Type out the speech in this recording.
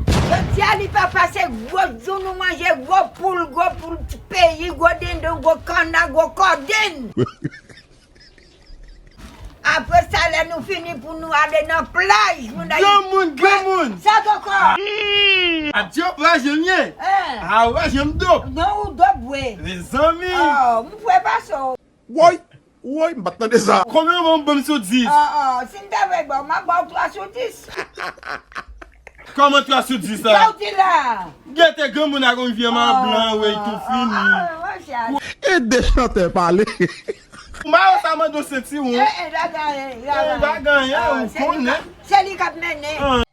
Jodia li pa pase gwo djou nou manje gwo poul gwo poul peyi gwo dindon gwo kanna gwo kodin apre sa lè nou fini pou nou ale nan plaj moun ayiti Gran moun gran moun Sa koko. Atyo wa jem ye Ahh. Ahh wa jem dop. Non ou dop vwe. Mezanmi. Aww m vwe pa so. Woy! Woy! M pat tande sa! Konbyen ou banm banm sou 10? Ah ah si m ta vle baw map baw 3 sou 10. Kòman 3 sou 10 la? Sa w di la a? Gete granmoun ak yon vye man blan weyy tou fini. Ede chantè pale. Mayo sa mande yon sentiwon. Eeh eeh la gagne. Eeh la gagne ou konnen. Se li kap mennen.